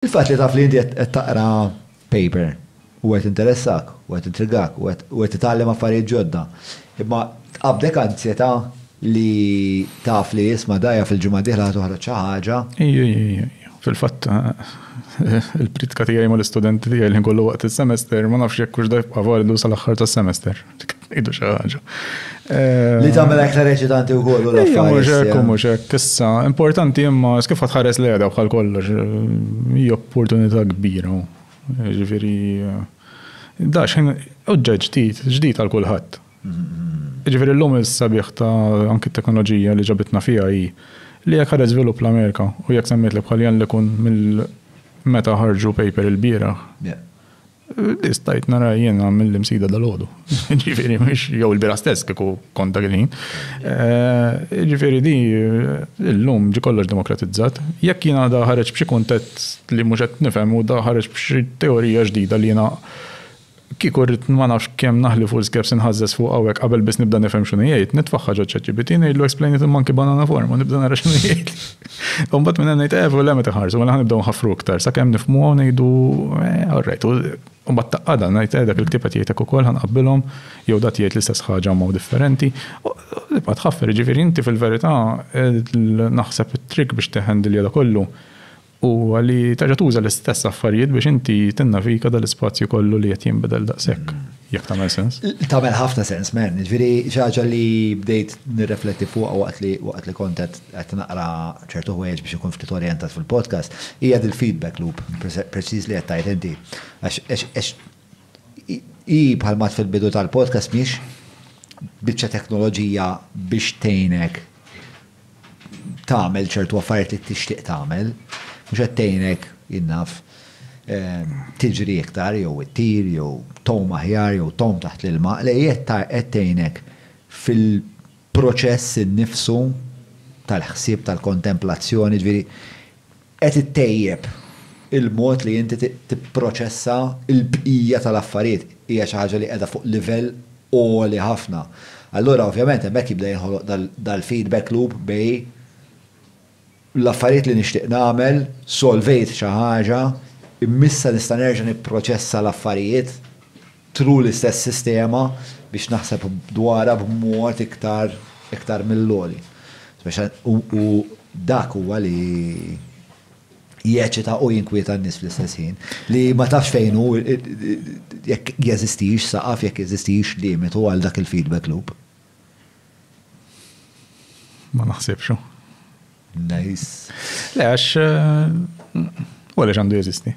Il-fatt li taf li inti qed taqra paper u qed jinteressak u qed jintrigak u qed titgħallem affarijiet ġodda, imma tqabdek anzjetà li taf li isma' dgħajja fil-ġimgħa d-dieħla ħa toħroġ xi ħaġa. Iju, iju, iju, iju. Fil-fatt, il-priedka tiegħi mal-istudenti tiegħi li nkollu waqt is-semester, ma nafx jekk hux da jibqa' validu sal-aħħar tas-semester. Idu xi ħaġa. Li eh, tagħmel aktar eċitanti wkoll u l-affarijiet. Mhux hekk, issa importanti imma kif tħares li għedha bħal kollox eh, hija opportunità kbira. Ġifieri eh, da xejn oġġeġ ġdid, ġdid għal kulħadd. Ġifieri llum is-sabiħ ta' anki t-teknoloġija li ġabitna fiha hi li jekk ħareġ żvilupp l-Amerika u jekk semmiet li bħal li kun mill meta ħarġu paper il-bieraħ Li stajt nara jiena mill-imsida dal-ħodu. Ġifiri, mux jew il-bira stess kiku kont dak il-ħin. Eh, Ġifiri di, l-lum ġi kollox demokratizzat. Jekk jiena da ħareġ b'xi kuntett li mhux qed nifhem u da ħareġ b'xi teorija ġdida li jiena kieku rrid ma nafx kemm naħli full skeps inħażżeż fuq hawnhekk qabel biss nibda nifhem x'inhu jgħid, nitfaħħa ġo ChatGPT ngħidlu explain it in monkey banana form u nibda nara x'inhu jgħid. U mbagħad minn hemm ngħid eh le meta ħarsu mela ħanibdew nħaffru iktar sakemm nifhmuha u ngħidu eh all right. U mbagħad taqgħadha ngħid eh dak il-ktieb qed jgħidlek ukoll ħanqabbilhom jew dak jgħid l-istess ħaġa mod differenti. U tibqa' tħaffer, jiġifieri inti fil-verità naħseb it-trick biex tiħendilja da kollu huwa li terġa' tuża l-istess affarijiet biex inti tinnavika dal-ispazju kollu li qed jinbidel daqshekk. Jekk tagħmel sens? Tagħmel ħafna sens, men. Ġifieri ħaġa li bdejt nirrefletti fuq waqt li waqt li kont qed naqra ċertu ħwejjeġ biex ikun ftit orjentat fil-podcast, hija dil-feedback loop, preċiż li qed tgħid inti. Għax hi bħal mat fil-bidu tal-podcast mhix biċċa teknoloġija biex tgħinek tagħmel ċertu affarijiet li tixtieq tagħmel, mhux qed tgħinek, jien naf, tiġri iktar jew ittir jew tgħum aħjar jew tgħum taħt l-ilma, le hi qed tgħinek fil-proċess innifsu tal-ħsieb, tal-kontemplazzjoni, jiġifieri, qed ittejjeb il-mod li inti tipproċessa l-bqija tal-affarijiet. Hija xi ħaġa li qiegħda fuq livell għoli ħafna. Allura ovvjament hemmhekk jibda jinħoloq dal-feedback loop bejn l-affarijiet li nixtieq nagħmel, solvejt xi ħaġa, imma issa nista' nerġa' nipproċessa l-affarijiet. True l-istess sistema biex naħseb dwarha b'mod iktar iktar mill-għoli. U dak huwa li jeċita u jinkwieta n-nies fl-istess ħin. Li ma tafx fejn hu jekk jeżistix saqaf, jekk jeżistix limitu għal dak il-feedback loop. Ma naħsibx hu. Nice. Le għax u għaliex għandu jeżisti?